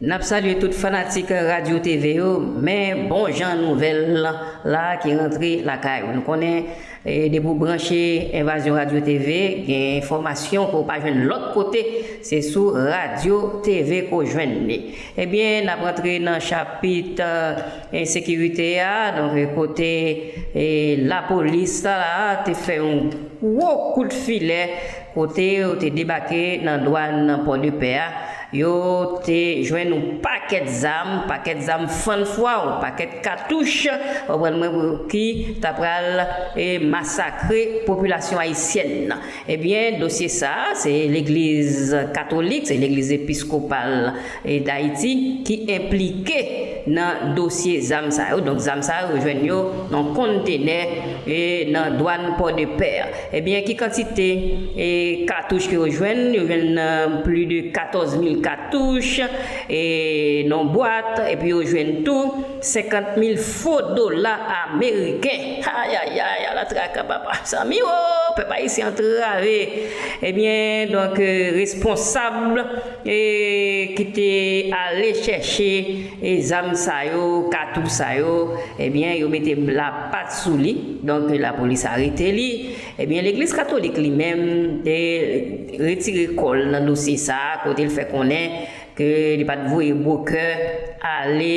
Nap salye tout fanatik radio TV yo men bon jan nouvèl la ki rantre lakay ou nou konnen depi ou branche envazyon radio TV gen enfòmasyon ke ou pa jwenn lòt kote se sou radio TV ke ou jwenn li ebyen nap rantre nan chapit ensekirite a donk kote lapolis la te fè yon gwo kout filè kote yo te debake nan dwàn pòdepè a Yo te jwenn yon pakèt zam, pakèt zam fann fwa, yon pakèt katouch, konprann mwen, pou ki t ap pral masakre popilasyon ayisyèn nan. Ebyen, dosye sa a, se legliz katolik, se legliz episkopal Dayiti ki enplike nan dosye zam sa yo. Donk zam sa yo, yo jwenn yo nan yon konntenè nan dwàn Pòdepè. Ebyen ki kantite katouch ke yo jwenn, yo jwenn pli de 14 mil katouch nan yon bwat, epi yo jwenn tou 50 mil fo dola ameriken, ayayay ala traka papa, mezanmi wo, pèp ayisyen antrave, ebyen donk responsab ki te ale chèche. E zam sa yo, katouch sa yo, ebyen yo mete la pat sou li, donk la polis arete li, ebyen legliz katolik li menm te retire kò l nan dosye sa kote l fè konnen ke li pat voye bwokè ale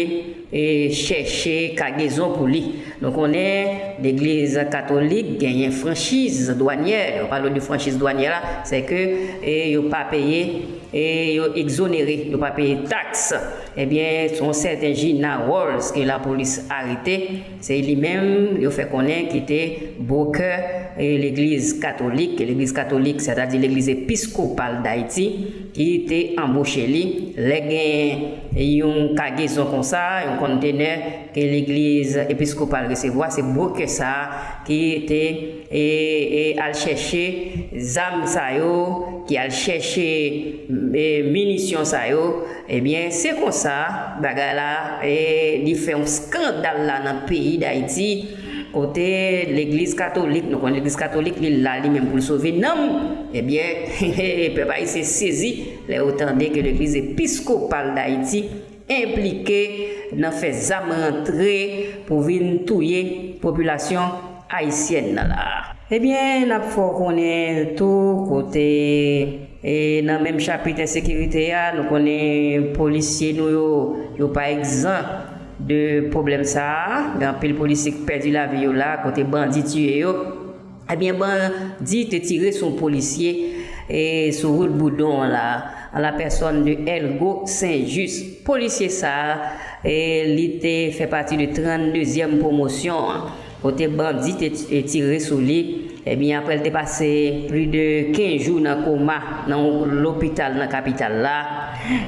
chèche kagezon pou li. Nou konnen legliz katolik genyen franchiz dwanyè, nou pale de franchiz dwanyè la sè ke yo pa peye yo egzonere, yo pa peye taks. Ebyen yon sèten Gina Rolls ke lapolis arete, se li menm yo fè konnen ki te brokè legliz katolik, legliz katolik sètadi legliz episkopal Dayiti ki te anboche li lè gen yon kagezon konsa, yon konntenè ke legliz episkopal resevwa se brokè sa ki te e al chèche zam sa yo, ki al chèche minisyon sa yo, ebyen se konsa bagay la li fè yon skandal la nan peyi Dayiti, kote legliz katolik, nou konnen legliz katolik li la li menm pou l sove nanm, ebyen pèp ayisyen sezi lè yo tande ke legliz episkopal Dayiti. enplike nan fè zam rantre pou vin touye popilasyon ayisyèn nan la. Ebyen nap fè w konnen tou kote e nan menm chapit ensekirite a nou konnen polisye nou yo yo pa egzan de pwoblèm sa a gen anpil polisye k pèdi lavi yo la kote bandi tiye yo. Ebyen bandi te tire sou polisye sou wout Boudon an la, an la pèsòn de Elgo Sen Jis. Polisye sa li te fè pati de 32 zyèm pwomosyon an, kote bandi te tire sou li, ebyen aprè l te pase pli de 15 jou nan koma nan yon lopital nan kapital la,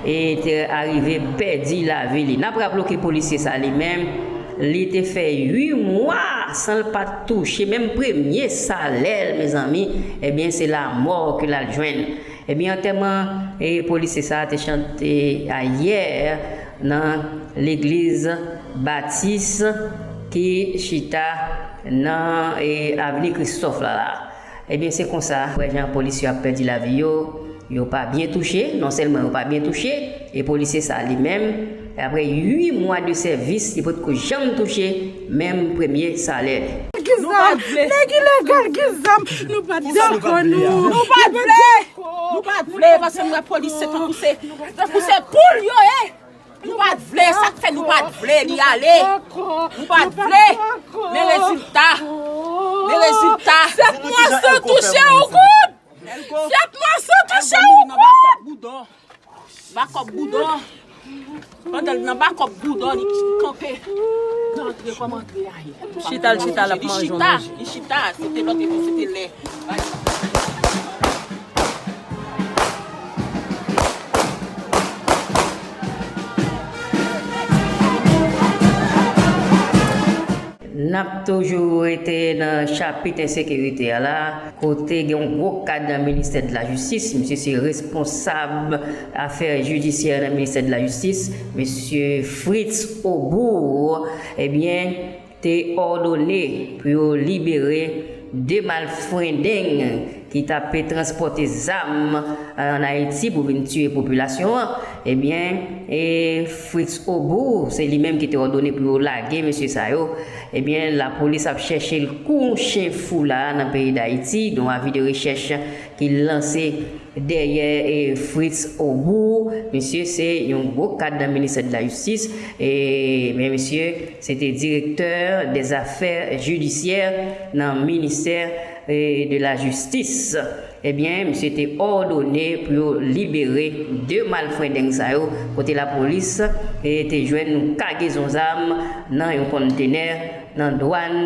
e te arive pèdi lavi li. N ap raple w ke polisye sa li menm. Li te fè 8 mwa san l pat touche menm premye salè l mezanmi ebyen se lamò ke lal jwenn ebyen antèman polisye sa te chante ayè nan legliz batis ki chita nan avni kristòf la la. Ebyen se konsa wè jan polis yo ap pèdi lavi yo, yo pa byen touche, non sèlman yo pa byen touche, e polisye sa li menm, aprè 8 mwa de sèvis li potko janm touche menm premye salè li. Nèg ilegal ki zam nou pat dakò nou. Nou pat vle. Nou pat vle paske nou wè polisye tankou se tankou se poul yo ye. Nou pat vle sak fè nou pat vle li ale nou pat vle men rezilta men rezilta 7 mwa san touche yon goud 7 mwa san touche yon goud bakop boudon pandan li nan bakop boudon li kanpe nan antre kòm antre a ye li chita li chita li chita se te lòt epi se te lè N ap toujou rete nan chapit ensekirite a la, kote gen yon gwo kad nan ministè de la jistis, misye se responsab afè jidisyè nan ministè de la jistis, mesye Fritz Aubour, ebyen. te òdone pou yo libere 2 malfrendeng ki t ape transpòte zam an Ayiti pou vin tiye popilasyon an, ebyen e Fritz Aubour se li menm ki te òdone pou yo lage mesye sa yo, ebyen lapolis ap chèche l kou chen fou la a nan peyi Dayiti, yon avi de rechèch. ki lanse dèyè Fritz Aubour misye se yon gwo kad nan ministè de la jistis men misye se te direktè dè zafè jidisyè nan ministè de la jistis ebyen misye te òdone pou yo libere 2 malfrendeng sa yo kote lapolis te jwenn yon kagezon zam nan yon konntenè nan dwàn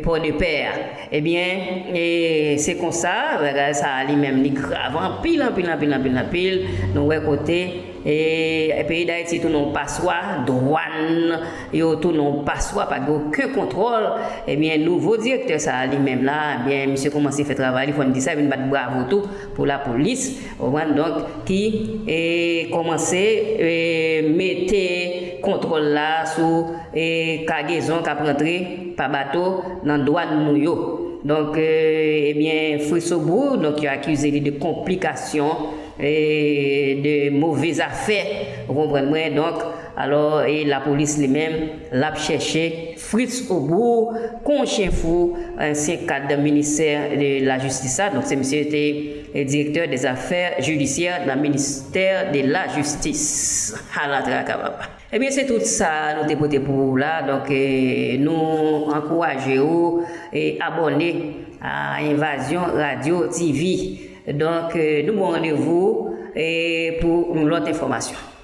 pòdepè a. Ebyen, e se konsa, bagay sa a li menm li grav anpil, anpil, anpil, anpil, anpil, nou wè kote, e peyi Dayiti tounen yon paswa, dwàn yo tounen yon paswa, pa gen oken kontwòl, ebyen nouvo direktè sa a li menm la, ebyen misye koumanse fè travay li, fò n di sa, epi n bat bravo tou pou lapolis, ou konprann, donk ki koumanse mete kontwòl la sou. e kagezon kap rantre pa bato nan dwàn nou yo donk ebyen Frisobourg donk yo akize li de konplikasyon e de move zafè ou konprann mwen donk alò e lapolis li menm lap chèche Fritzobourg kon chyen fou ansyen kad ministè de lajistis la donk se misye ki te direktè dè zafè jidisyè nan ministè de lajistis ala traka papa. Ebyen se tout sa nou te pote pou ou la donk nou ankouraje ou abòne a Envazyon Radio TV donk nou bon randevou pou yon lòt enfòmasyon.